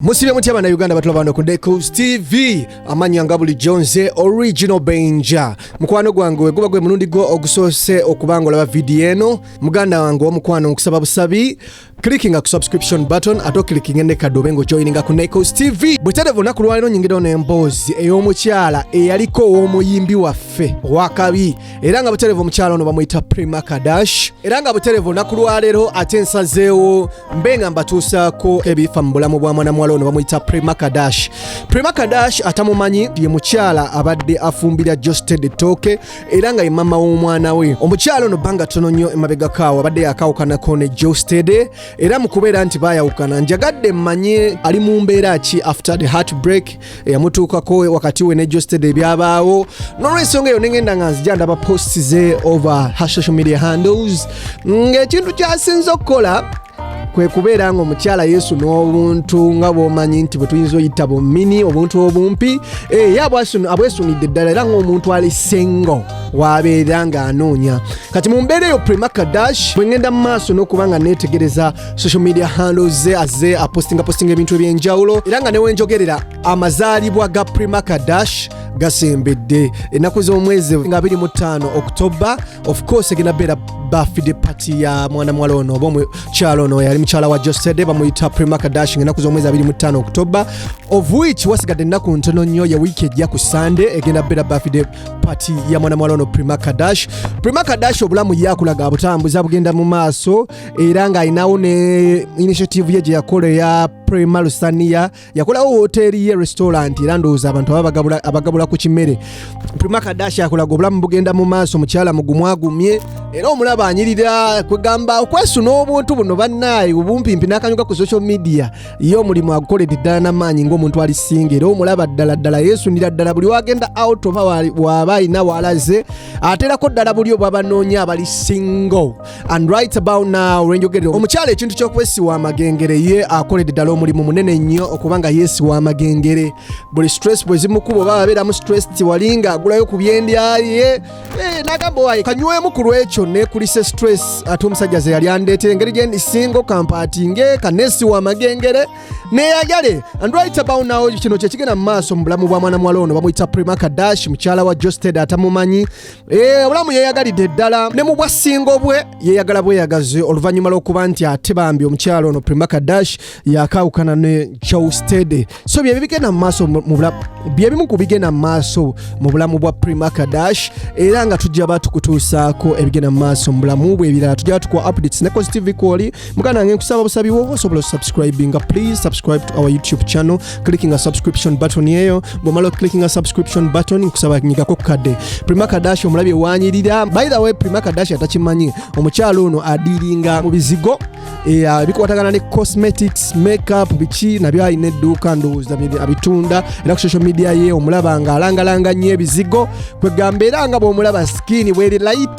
musibe mutya bana uganda batulaba bano ku decos tv amanya nga bulijjo nze original benja mukwano gwange weguba gwe mulundi gwo ogusoose okuba nga olaba vidiyo eno muganda wange omukwano nkusaba busabi clickinga ku subscription button ate okilikinga enekadde obe nga ojoyininga ku necos tv bwetadeva olunaku lwaliro nyingirawo n'emboozi ey'omukyala eyaliko ow'omuyimbi waffe wakabi era nga buterevu omukyala ono bamuyita prima kadash era nga buterevu olunaku lwaleero ate nsazeewo mbe nga mbatuusaako ebifa mu bulamu bwa mwana muwala ono bamuyita prima kadash prima kadash atamumanyi ye mukyala abadde afumbira josted ettooke era nga ye mama w'omwana we omukyala ono bbanga tono nnyo emabegakaawo abadde yakawukanako ne josted era mu kubeera nti bayawukana njagadde mmanye ali mu mbeera ki after the heart break eyamutuukako wakati we ne josted ebyabaawo nolwensonga eyo nengenda nga nzija ndaba post ze over her social media handles ng'ekintu kyasinza okukola kwe kubeera nga omukyala yesu n'obuntu nga bwomanyi nti bwe tuyinza oyita bumini obuntu obumpi eh, ye abwesunidde ddala era ng'omuntu ali sengo wabeera ng'anoonya kati mu mbeera eyo prima kadash bwe ŋŋenda mu maaso n'okuba nga neetegereza social media handles ze azze apostinga postinga ebintu ebyenjawulo era nga newenjogerera amazaalibwa ga primarka dash gasembedde ennaku z'omwezi nga 25 oktoba of course egenda beera bafide pati ya mwana muwala ono oba omukyalo ono yali mukyala wa josede bamuyita primarka dash nga ennaku z'omwezi 25 oktoba of which wasigadde ennaku ntono nnyo ya wiiki ejja ku sande egenda beera bafide pati ya mwana muwala ono primarka dash primarka dash obulamu yakulaga butambuza bugenda mu maaso era ng'alinawo ne initiative ye gye yakola eya prema lusaniya yakolawo woteeri ye restaurant era ndowooza abantu aba abagabula ku kimere prima kadashi akolaga obulamu bugenda mu maaso mukyala mugumu agumye era omulaba anyirira kwegamba okwesuna obuntu buno bannaayi obumpimpi n'akanyuga ku social media ye omulimu agukoledde ddala n'amaanyi ng'omuntu ali singa era omulaba ddala ddala yeesunira ddala buli wagenda out oba waaba alina waalaze ateerako ddala buli obwabanoonya abali single and right about now wenjogerera omukyala ekintu kyokwesiwa amagengere ye akoledde ddala omulimu munene nnyo okuba nga yeesiwa amagengere buli stress bwezimukuba oba abeeramu stress tiwalinga agulayo ku byendyaye eh, nagamba waye kanywemu ku lwekyo nekulise stress ate omusajja ze yali andeetera engeri gye ndisingo kampaatinge kaneesiwa amagengere neyagale and right about now kino kyekigenda mu maaso mu bulamu bwa mwana muwala ono bamuyita prima kadash mukyala wa josted atamumanyi Eh, obulamu yeyagalidde ddala ne mu bwassingo bwe yeyagala bweyagazi oluvannyuma lw'okuba nti ate bambi omukyalo ono primaka dash yakaawukana ne joustede so byebi bigenda mumaaso byebimu ku bigenda mu maaso mu bulamu bwa primaka dash era nga tujja batukutuusaako ebigenda mu maaso mu bulamu bwe ebirala tujja batukuwa updates ne cos tv kwoli muganda wange nkusaba busabi wo osobola osubscribinga please subscribe to our youtube channel clicking a subscription button eyo bwomala clicking a subscription button nkusaba nyigako kukadde prima kadashi omulabi ewanyirira by the way prima kadashi atakimanyi omukyala ono adiringa mu bizigo eh, bikwatagana ne cosmetics makeup biki nabyo alina edduuka ndowooza abitunda era ku social media ye omulaba nga alangalanga nnyo ebizigo kwegamba era nga bwomulaba skin bweri light